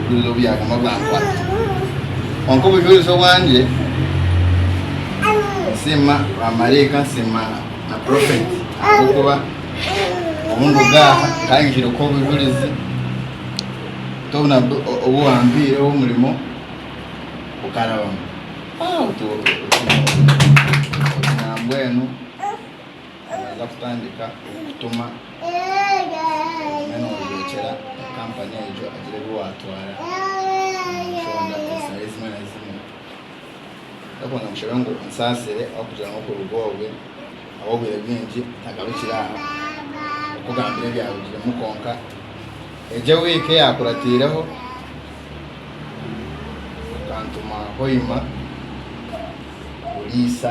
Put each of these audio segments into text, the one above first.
Burijo byaguma byankwata Kwonka obujwerize obwangye Nsiima ba maraika nsiima na prophet ahabw'okuba obu nduga aha nkayengyeire kuha obujwerize Hati obu nabwo obu wampaire omurimo gukarabamu Hati otu otu nambwenu naaza kutandika kutuma obumwe noojwekyera kampani egyo agira ebi waatwara omu nshonda ezitari ezimwe na zimwe. Ndakunda nkushabe ngu onsaasire ahabw'okugira ngu okuruga obwe ahabw'obwire bwingi ntagarukire aha kukugambira ebyarugiremu kwonka egyo ewiiki eyaakuratiireho okantuma Hoima kuriisa.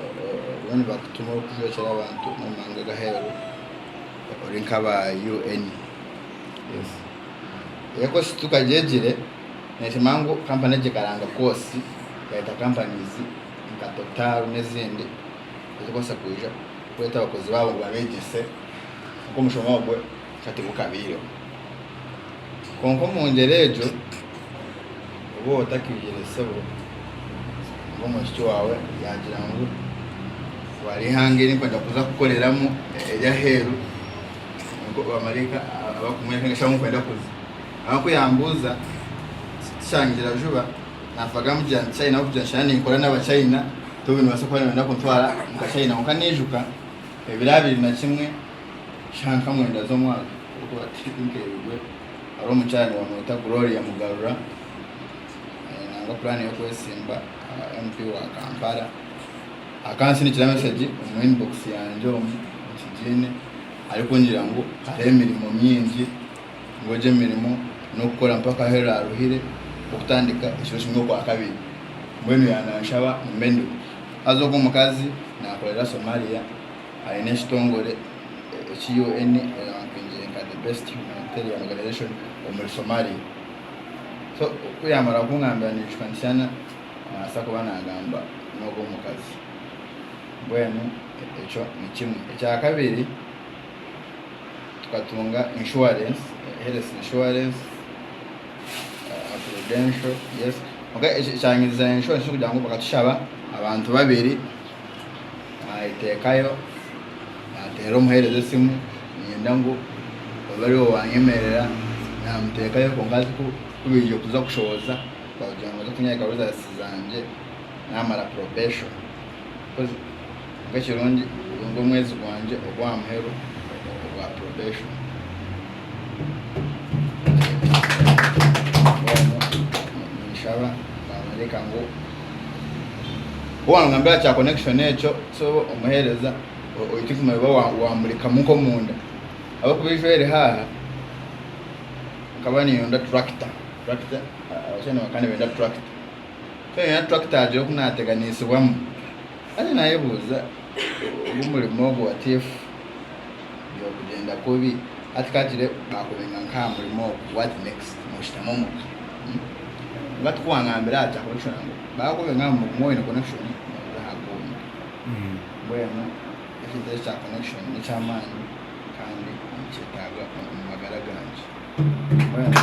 Oriyo nibakutuma orikujwekyera abantu omu mawanga g'aheeru ori nk'aba UN. Ego shi tukagyegire neeshema ngu kampani egi ekaranga koosi ekareta kampani nka Total n'ezindi ezirikubaasa kwija kureeta abakozi baabo ngu babeegyese nk'omushomorwe ka tibukabaireho. Kwonka omu ngyera egyo, obu oraba otakaihaire sebo nari omwishiki waawe yaagira ngu, Twara eihanga eri ndikwenda kuza kukoreramu ery'aheeru, nikwo bamaraika abarikumworeka ngu shi ahu ndikwenda kuza. Nangwa ku yaambuuza tikyangira juba, naafa agamba ngu, Gira nti China ahabw'okugira ngu shana ninkora n'Abachina, tobu nibaasa kuba nibenda kuntwara omu ka China. Kwonka naijuka ebiro abiri na kimwe. Shiha nka mwenda z'omwaka ogu ati tinkeebirwe. Hariho omukyara nibamweta Gloria Mugarura nangwa puraani y'okwetsimba MP wa Kampala. Akansindikira mesegi omu inbox yangye omu nkigiine arikungira ngu hariho emirimo mingi ngu egyo emirimo n'okukora mpaka ahu eraaruhire nk'okutandika ekiro kimwe okwakabiri. Mbwenu yaananshaba mbe ndiho. Haza ogwo mukazi naakorera Somalia Aine ekitongore eki UN erampingire nka the best humanitarian organization omuri Somalia. So ku yamara kungambira naijuka nti shana nabasa kuba nagamba nogu omukazi. Mbwenu ekyo ni kimwe. Ekya kabiri tukatunga insurance, health insurance, aha Prudential, yes. Kwonka ekyanyiriza insurance nokugira ngu bakatushaba abantu babiri. Nayeteekayo, naateera omuheereza esimu, niinyenda ngu obe ari we waanyemerera. Naamuteekayo kwonka azi ku ku baija kuza kushohoza baagira ngu baza kunyahikaho rizaasi zangye naamara probation. Because nikwo kirungi gwe nigwo mwezi gwangye ogw'aha muheru ogwa probation. Mbwenu ninshaba, naamworeka ngu. Ku waangambira kya connection ekyo so omuheereza oitwe kumanya oba waamurikamu nk'omunda. Ahabw'okuba eijwe eri haaha nkaba niinyenda tractor, tractor abashaija nibakira nibenda tractor. Ku naagira oku naateganiisibwamu. Nanye nayebuuza ogu murimo ogu what if byokugyenda kubi hati kagire bakubenga nkaha murimo ogu what next noshitama omuka umm batu kuwangambira ati ahabweki oraba ngu bakubenga aha murimo oyine connection noza aha gundi mbwenu ekintu ekyo ekya connection nekyamaani kandi nikyetaaga omu magara gangye mbwenu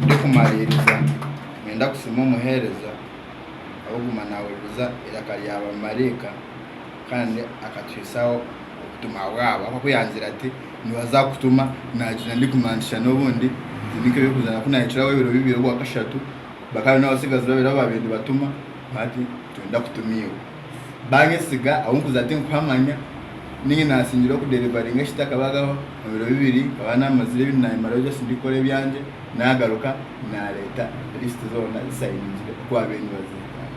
ndikumariiriza niinyenda kusiima omuhereza. ahabw'okuguma naahuririza eiraka rya bamaraika kandi akatuhitsyaho obutumwa bwabo. Ahabw'okuba yaanzire ati, Nibaza kukutuma, naagira ndikumantsya n'obundi, egi nikyo y'okuzaana ku naahikiraho ebiro bibiri obwa kashatu. Bakaba baine abatsigazi babiri abu baabaire nibatuma, bati, Nitwenda kutuma iwe. Baanyesiga, ahu nkuza tinkuhamanya, nainga naasingire okudeerivaringa ekitaakabagaho, omu biro bibiri nkaba naamazire ebi naayemarireho just ndikukora ebyangye. Naagaruka naareeta lisiti zoona zisainingire ku ab'e New Zealand.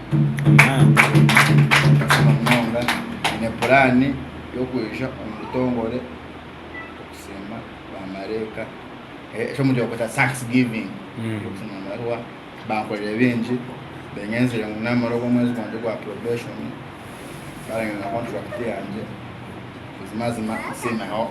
Nkashoma munonga. Nyine puraani y'okwija omu butongore okusiima baamaraika. Eki omu Luganda bakweta Thanksgiving. Nkashoma amabaruha. Bankorire bingi. Beengenzire ngu naamara ogwo mwezi gwangye gwa probation, baarangira na kontrakiti yangye. Buzima buzima nsiimireho.